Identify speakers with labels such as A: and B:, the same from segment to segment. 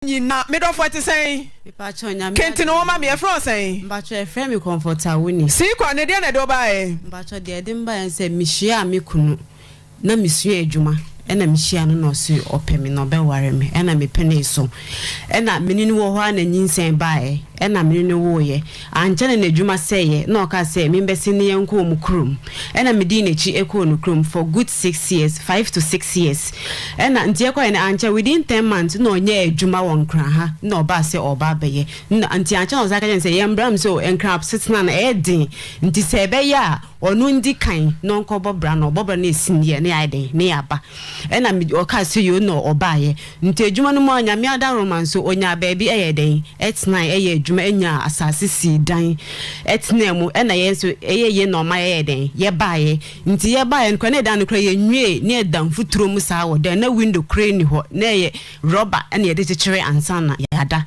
A: nyina me dɔfo ɛte sɛn Mepakyɛw nyame ade kentene wo ma me yɛfrɛ wo sɛn Mepakyɛw yɛfrɛ me
B: kɔmfɔta wo ni Sii kɔ ne deɛ na ɛde wo
A: baeɛ Mepakyɛw deɛ ɛde me baeɛ
B: ne sɛ mehyiaa me kunu na mesua adwuma ɛna mehyiaa no na ɔse ɔpɛ me na ɔbɛware me ɛna mepenee so ɛna mene no wɔ hɔ a na nyinsɛn baeɛ ɛna mene no woeɛ Ankyɛ na n'adwuma sɛeɛ na ɔkaa sɛ membɛsen ne yɛnkɔ wɔn kurom. Ɛna medii n'akyi kɔɔ ne kurom for good six years, five to six years. Ɛna nti yɛkɔeɛ no ankyɛ within ten months na ɔnyaa adwuma wɔ Nkran ha na ɔbaa sɛ ɔreba abɛyɛ. Nti ankyɛ na ɔsan ka kyerɛɛ me sɛ yɛn bram sɛ o Nkran asetena no ɛyɛ den nti sɛ ɛbɛyɛ a Ɔno ndi kan na ɔnkɔbɔ bra na ɔbɔ bra na esin yɛ ne ayɛ dɛn ne yɛaba ɛna me ɔkaa sɛ yoo na ɔbaayɛ nti edwuma no mu a Nyame adaworoma nso onyaa baabi ɛyɛɛ dɛn ɛtenae ɛyɛɛ edwuma ɛnyaa asaase sii dan ɛtenaa mu ɛna yɛn nso ɛyɛ yie na ɔma yɛyɛɛ dɛn yɛbaayɛ nti yɛbaayɛ no koraa na ɛdan no koraa yɛnwiee na yɛda mfuturo mu saa wɔ dan na window koraa nni hɔ na ɛyɛ rubber ɛna yɛde kyekyeree ansa na yɛada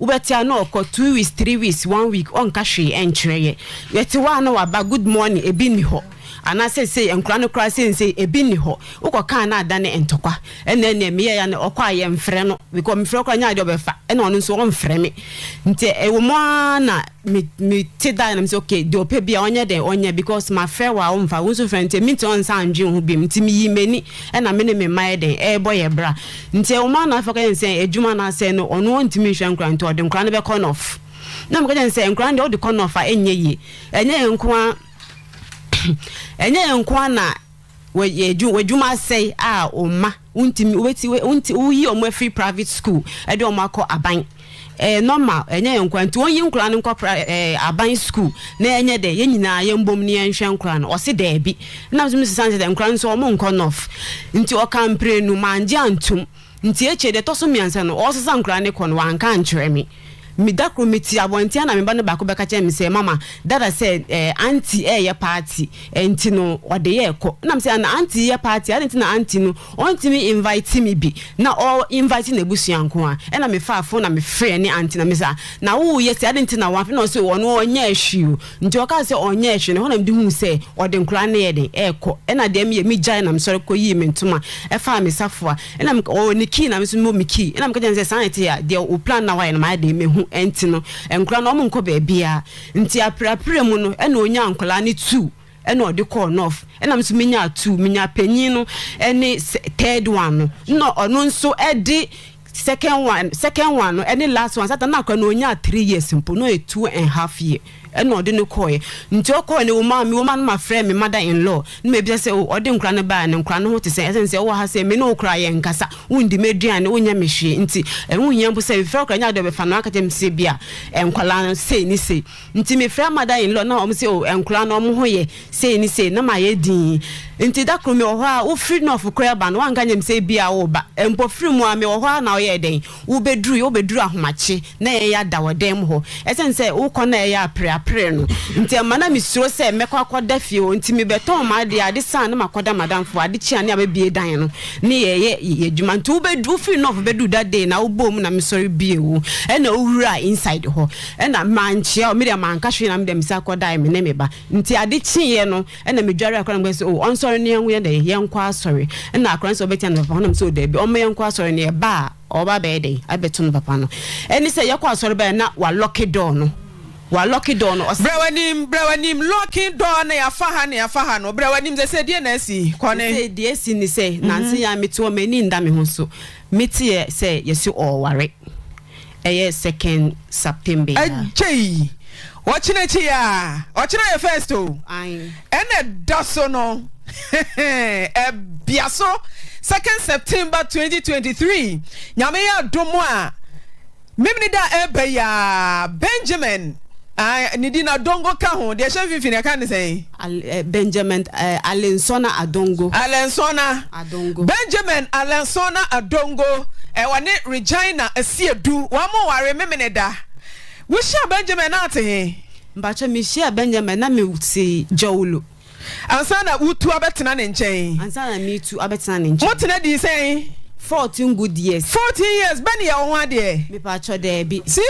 B: Wobɛtea na ɔkɔ two weeks, three weeks, one week ɔnka hwee ɛnkyerɛ yɛ. Yɛte hɔ a na waba good morning ebi nni hɔ. Anaa sɛ sei nkora no koraa sensei ebi nni hɔ. Wokɔ kaa na adane ntɔkwa. Ɛnɛ neɛ meyɛ ya no ɔkɔ a yɛnfrɛ no. Mekɔ mefrɛ koraa nyɛ adeɛ ɔbɛfa. Ɛna ɔno nso ɔnfrɛ me. Nti ɛwɔ mu aa na. me me te dan na me sɛ okay deɛ ɔpɛ bi a ɔnyɛ dɛ ɔnyɛ because ma frɛ wa wo nfa wo nso frɛ nti me ti ɔn nsa ndwe ho bi mu nti me yi m'ani ɛna me ne me mma yɛ dɛn ɛɛbɔ yɛ bra nti ɛwɔ mu ana afɔ kɛyɛ nsɛ adwuma na asɛ no ɔno wɔn ntumi nhwɛ nkora nti ɔde nkora no bɛ kɔ nɔf na mo kɛyɛ nsɛ nkora no deɛ ɔde kɔ nɔf a ɛnyɛ yie ɛnyɛ yɛn nko a ɛnyɛ yɛn nko a na. wɔyɛ adwuma w'adwuma asɛe a wo mma wontumi wobɛti wonti woyi wɔn afiri private school ɛde wɔn akɔ aban ɛyɛ normal ɛnyɛ yɛn nkora nti wɔnyi nkora no nkɔ pra ɛɛ aban school na ɛnyɛ dɛ yɛn nyinaa yɛn bom ne yɛn hwɛ nkora no ɔsi dɛɛbi ɛna nso mi sisan sɛ dɛ nkora nso wɔn nkɔ north nti ɔka mprenu mangye antum. Nti akyire yi, deɛ ɛtɔ so mmiɛnsa no, ɔresesa nkwadaa no kɔ no, wanka ankyerɛ me. Me, da koro mete abɔnten a na me ba no baako bɛka kyerɛ me sɛ, Mama, Dada sɛ ɛɛ Auntie reyɛ party, nti no ɔde yɛrekɔ. Ɛna me sɛ, Ana Auntie reyɛ party a? Adɛn nti na Auntie no ɔntumi invite me bi na ɔ invite n'abusua nko ara? Ɛna mefaa phone na mefrɛɛ ne Auntie na me sɛ, Na woreyɛ sei adɛn nti na woamfrɛ me? Ɛna ɔse, Ɔno ɔnyɛɛ hwee o, Nti ɔkaa sɛ ɔnyɛɛ hwee, na ɛhɔ na mede huu sɛ ɔde nkwadaa no yɛ den, ɛrekɔ. Ɛna deɛ meyɛ, megyae na mesɔre kɔyii me ntoma, ɛfaa me safoa. Ɛna meka, ɔwɔ ne key na me nso mewɔ me key. Ɛna meka kyerɛɛ no sɛ, saa na ɛte a, deɛ wo plan na woayɛ no mayɛ den mahu, ɛnti no, nkwadaa no, wɔnkɔ baabiara. Nti aperapera mu no, ɛna ɔnyaa nkwadaa no two, ɛna ɔde kɔɔ North. Ɛna me nso menyaa two, menyaa panin no ne third one no, ɛna ɔno nso de. Second one second one no ɛne last one satan na kora na onyaa three years mpo na ɔyɛ two and half year ɛna ɔde no kɔɛ nti ɔkɔɛ no wɔma me wɔma no ma frɛ me mother in law na ma ebisa sɛ o ɔde nkora no baa no nkora no ho te sɛ ɛsɛn sɛ ɔwɔ ha sɛ me ne wo kora yɛ nkasa wondi me aduane wonyɛ me hwee nti ɛho hia mpo sɛ befrɛ kora nya de ɔbɛfa no aka kyɛm sɛ bi a nkwadaa no sei ne sei Nti me frɛ mother in law na ɔmo se oh nkora no ɔmo ho yɛ sei ne sei na mayɛ dinn nti da koro me wɔ hɔ aa wo firi nɔf korɛ ba no wanka nyɛm sɛ ebi aa wooba mpo firi mu aa me wɔ hɔ aa na ɔyɛɛ dɛn wo bɛ duru yɛ wo bɛ duru ahomakye na yɛn ya da wɔ dan mu hɔ ɛsɛn sɛ wo kɔ na yɛ ya pere apere no nti ɛma na me suro sɛ mɛkɔ akɔ da fie hɔ nti me bɛ tɔn m'adeɛ ade saa na makɔ da madam foɔ ade kye a ne abɛ bie dan no ne yɛ yɛ yɛ adwuma nti wo bɛ wo firi nɔf bɛ duru da dee na wo bɔɔ mu na me sɔre bie wo ɛna wo wuraa inside hɔ. Nna mannkyea o, me deɛ manka hwee na me deɛ me san kɔdae me ne me ba. Ntsi ade kyeeɛ no nna medware akora no mekɔse o ɔnsɔre na yɛnwo yɛdɛn yɛnkɔ asɔre. Nna akora no se ɔbɛkya ne papa hɔ na mese o daabi ɔmma yɛnkɔ asɔre no yɛba a ɔba abɛyɛ dɛn abɛto ne papa no. Ɛne sɛ yɛkɔ asɔre bae na walɔke dɔɔ no walɔke dɔɔ no ɔse. Bra w'anim bra w'anim lɔke dɔɔ na yɛafa ha na yɛafa ha no bra w'anim sese deɛ na asi kɔ ne. Sese deɛ asi ne sɛ nanse yɛa mete hɔ m'ani nda me ho so meteɛ sɛ yɛse ɔɔware. Ɛyɛ second September yi a. Gyei!
A: Ɔkyena akyi yi a. Ɔkyena yɛ first o. Ae. Ɛna
B: ɛda so
A: no. Ɛbea so second September twenty twenty three. Nyame yɛ adom a, Memeneda a ɛreba yi ara, Benjamin, ae, ne din Adongo ka ho. Deɛ ɛhyɛ mfimfini, yɛka no sɛn? Benjamin
B: Alensona Adongo. Alensona, Benjamin
A: Alensona Adongo, ɔne Regina Asiedu, wɔnware Memeneda. Wohyiaa
B: Benjamin
A: na
B: ɔte he? Mpakyɛ, mehyiaa Benjamin na mete Jawolo.
A: Ansa na woretu abɛtena ne nkyɛn? Ansa na meretu abɛtena
B: ne nkyɛn. Motena dii sɛn?
A: Fourteen
B: good
A: years.
B: Fourteen
A: years, bɛ ne yɛ
B: wo ho
A: adeɛ? Mepakyɛ,
B: daabi.